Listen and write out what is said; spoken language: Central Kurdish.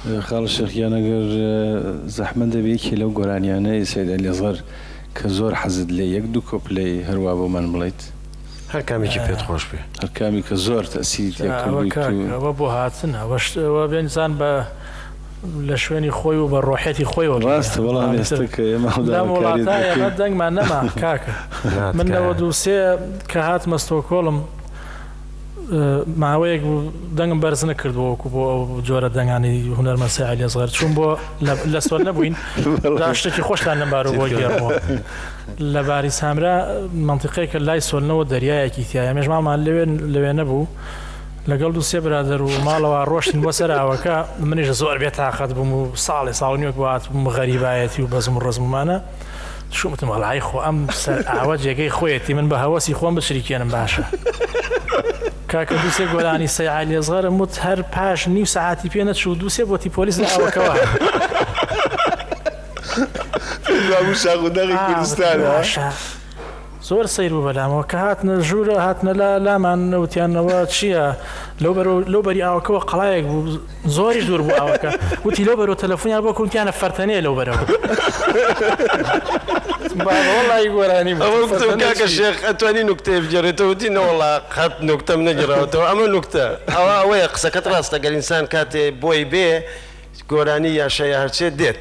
خالد شێخ گیان ئەگەر زەحمەت نەبێ یەکێ لەو گۆرانیانەی سەید ئەلیەزەر کە زۆر حەزت لێی یەک دوو کۆپلەی هەروا بۆمان بڵێیت. هەر کامێکی پێت خۆش بێ. هەر کامی کە زۆر تەئسیری تیا کردویت و. ئەوە کاک ئەوە بۆ هاتنە ئەوەش ئەوە بێ ئینسان بە لە شوێنی خۆی و بە ڕۆحیەتی خۆیەوە بێ. ڕاستە بەڵام ئێستا کە ئێمە هەڵ داوە لەم کاریت وڵاتە ئێمە دەکەین. دەنگمان نەما کاکە. نا من تکایە. نەوەد و سێ کە هاتمە ستۆکۆڵم ماوەیەک بوو دەنگم بەرز نەکردبوو وەکو بۆ ئەو جۆرە دەنگانی هونەرمەند سیعلی ئەسغەر چوون بۆ لە سوەر نەبووین دا شتێکی خۆشتان لەم بارەوە بۆ گێڕبووە لە باری سامرا منطقەیەکە لای سۆلنەوە دەریایەکی تایە مێژ ماڵمان لەوێ لەوێ نەبوو لەگەڵ دو سێ برادەر و ماڵەوە ڕۆشتن بۆ سەراوەکە منیش زۆر بێتاقەت بووم و ساڵێ ساڵنیۆک وات بووم غەریبایەتی و بەزم و ڕزممانە شوتم هەڵایی خۆ ئەم سەر ئاوە جێگەی خۆیەتی من بە هەوەسی خۆم بچریکێنم باشە کاکە دووسێ گۆرانی سەیعا لێزغەرم وت هەر پاش نیو سەعاتی پێ نەچوو دووسێ بۆتی پۆلیس لە ئاوەکەوە شاخ و دەغی کوردستانە زۆر سەیر بوو بەلامەوە کە هاتنە ژوورە هاتنە لا لامان وتیان ئەوە چییە لەو بەرو لەو بەری ئاوەکەەوە قەڵایەک بوو زۆری دوور بوو ئاوەکە وتی لەو بەرەوە تەلەفۆنیان بۆ کوتیانە فەرتەنێ لەو بەرەوە وڵی گۆرانی کاکە شێخ ئەتوانی نوکتەیە بگەڕێتەوە وتی نەوەڵا قەت نوکتەم نەگەراوەتەوە ئەمە نوکتە ئەوە ئەوەیە قسەکەت ڕاستە گەر ئینسان کاتێ بۆی بێ گۆرانی یاشای هەرچێت دێت.